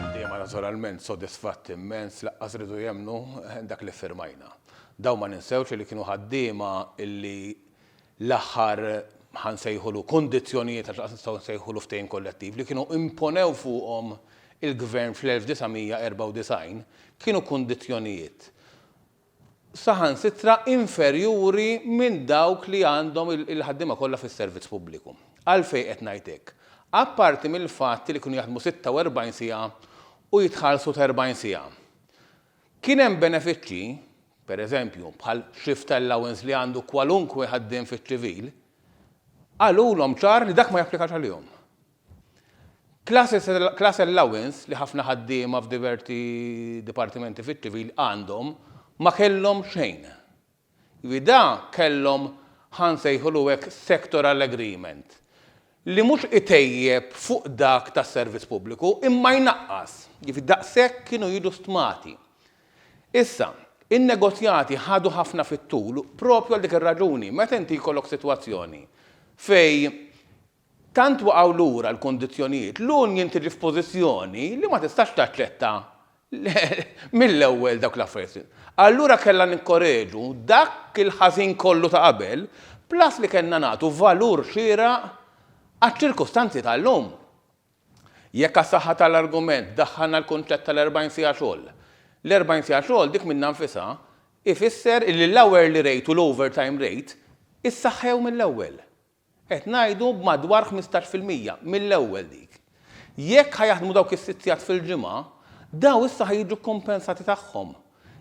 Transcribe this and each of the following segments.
Ħaddiema naturalment sodisfatti immens laqqas ridu jemmnu dak li ffirmajna. Dawn ma ninsewx li kienu ħaddiema li l-aħħar ħa nsejħulu kundizzjonijiet għax laqqas nistgħu nsejħulu ftehim kollettiv li kienu imponew fuqhom il-Gvern fl-1994 kienu kundizzjonijiet saħansitra inferjuri minn dawk li għandhom il-ħaddiema kollha fis-servizz pubbliku. Għalfejn qed ngħid hekk? Apparti mill-fatt li kienu jaħdmu 46 siegħa u jitħallsu ta' 40 siegħa, kien hemm benefiċċji, pereżempju, bħal shift allowance li għandu kwalunkwe ħaddiem fiċ-ċivil, qalulhom ċar li dak ma japplikax għalihom. Class allowance li ħafna ħaddiema f'diverti dipartimenti fiċ-ċivil għandhom ma kellhom xejn. Jiġifieri da kellhom ħa nsejħulu hekk sectoral agreement li mhux itejjeb fuq dak tas-servizz pubbliku imma jnaqqas. Jiġifieri daqshekk kienu jiġu stmati. Issa, in-negozjati ħadu ħafna fit-tul propju għal dik ir-raġuni. Meta inti jkollok sitwazzjoni fejn Tant waqgħu lura l-kundizzjonijiet, l-union tiġi f'pożizzjoni li ma tistax taċċetta mill-ewwel dawk l-affarijiet. Allura kellha nikkoreġu dak il-ħażin kollu ta' qabel, plus li kellna nagħtu valur xieraq għaċ-ċirkustanzi tal-lum. Jekk għas-saħħa tal-argument daħħalna l-kunċett tal-40 siegħa xogħol, l-40 siegħa xogħol dik minnha nfisha jfisser illi l-hourly rate u l-overtime rate issaħħew mill-ewwel. Qed ngħidu b'madwar ħmistax fil-mija, mill-ewwel dik. Jekk ħa jaħdmu dawk is-sitt sigħat fil-ġimgħa, dawn issa ħa jiġu kkumpensati tagħhom.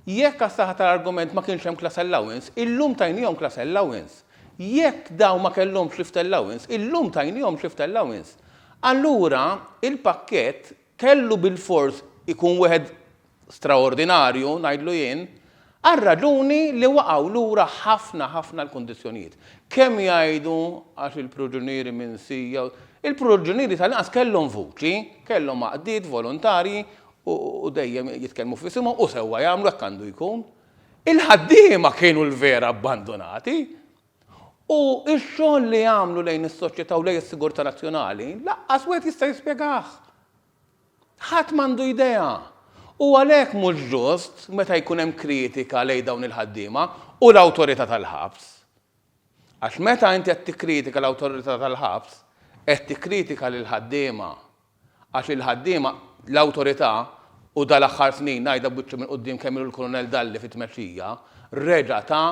Jekk għas-saħħa tal-argument ma kienx hemm class allowance, illum tajniehom class allowance. Jekk dawn ma kellhomx shift allowance, illum tajniehom shift allowance. Allura, il-pakkett kellu bilfors ikun wieħed straordinarju, ngħidlu jien, għar-raġuni li waqgħu lura ħafna ħafna l-kundizzjonijiet. Kemm jgħidu għax il-priġunieri minn Sija, il-priġunieri tal-inqas kellhom vuċi, kellhom għaqdiet volontarji u dejjem jitkellmu f'isimhom u sewwa jagħmlu hekk għandu jkun. Il-ħaddiema kienu l-vera abbandunati u x-xogħol li għamlu lejn is-soċjetà u lejn is-sigurtà nazzjonali lanqas wieħed jista' jispjegah. Ħadd m'għandu idea! U għalhekk mhux ġust meta jkun hemm kritika lejn dawn il-ħaddiema u l-Awtorità tal-Ħabs. Għax meta inti qed tikkritika l-Awtorità tal-Ħabs, qed tikkritika lill-ħaddiema. Għax il-ħaddiema, l-Awtorità, u dal-aħħar snin ngħidha b'wiċċi mill-quddiem kemm ilu l-Kulunell Dalli fit-tmexxija, reġa' ta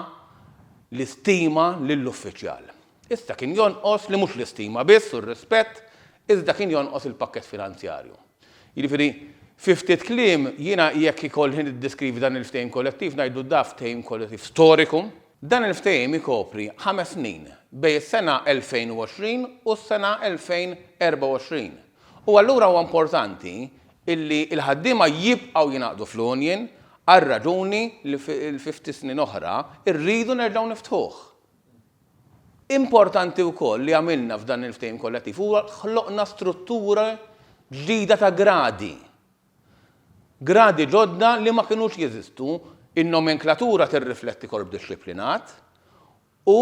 l-istima lill-uffiċjal. Issa kien jonqos li mhux l-istima biss u r-rispett, iżda kien jonqos il-pakkett finanzjarju. Jiġifieri, fi ftit kliem, jiena jekk ikollhi niddeskrivi dan il-ftehim kollettiv ngħidlu da ftehim kollettiv storiku. Dan il-ftehim ikopri ħames snin, bejn is-sena 2020 u s-sena 2024. U allura huwa importanti illi l-ħaddiema jibqgħu jingħaqdu fl-union għar-raġuni li fi ftit snin oħra rridu nerġgħu niftħuh. Importanti wkoll li għamilna f'dan il-ftehim kollettiv huwa ħloqna struttura ġdida ta' gradi. Gradi ġodda li ma kinux jeżistu, in-nomenklatura tirrifletti korp dixxiplinat u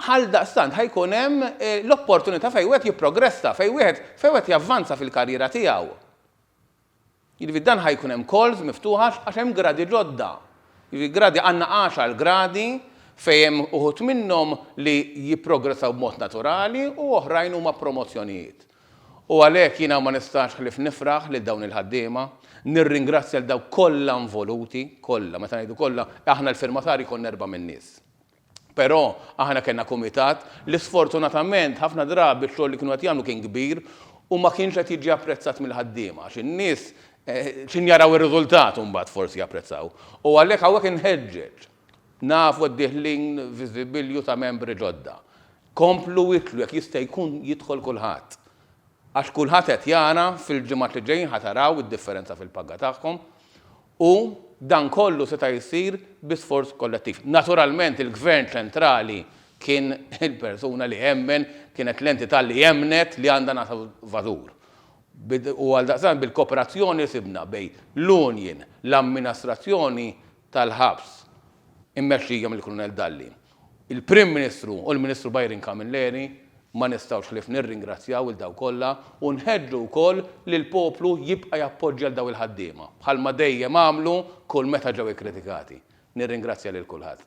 ghaldaqstant ħa jkun hemm l-opportunità fejn wieħed jipprogressa, fejn wieħed fejn wieħed javvanza fil-karriera tiegħu. Jiġifieri dan ħa jkun hemm calls miftuħa għax hemm gradi ġodda. Jiġifieri gradi għandna għaxar gradi fejn hemm uħud minnhom li jipprogressaw b'mod naturali u oħrajn huma promozzjonijiet. U għalhekk jiena ma nistax ħlief nifraħ lil dawn il-ħaddiema, nirringrazzja lil dawk kollha involuti, kollha, meta ngħidu kollha, aħna l-firmatarji konna erba' min-nies. Però aħna kellna kumitat li sfortunatament ħafna drabi x-xogħol li kienu qed jagħmlu kien kbir u ma kienx qed jiġi apprezzat mill-ħaddiema għax in-nies x'in jaraw ir-riżultat u mbagħad forsi japprezzaw. U għalhekk hawnhekk inħeġġeġ, nafu qed dieħlin viżibilju ta' membri ġodda, komplu itlu jekk jista' jkun jidħol kulħadd. Għax kulħadd qed jara fil-ġimgħat li ġejjin ħa taraw id-differenza fil-paga tagħhom U dan kollu seta' jsir bi sforz kollettiv. Naturalment il-Gvern Ċentrali kien il-persuna li emmen, kienet l-entità li emmnet li għandha nagħta valur. U għaldaqstant bil-koperazzjoni li sibna bejn l-union, l-amminastrazzjoni tal-ħabs immexxija mill-Krunell Dalli, Il-Prim Ministru u l-Ministru Byron Camilleri, ma nistgħux ħlief nirringrazzjaw lil dawk kollha u nħeġġu wkoll li l-poplu jibqa' jappoġġja lil dawn il-ħaddiema, bħalma dejjem għamlu kull meta ġew ikkritikati. Nirringrazzja lil kulħadd.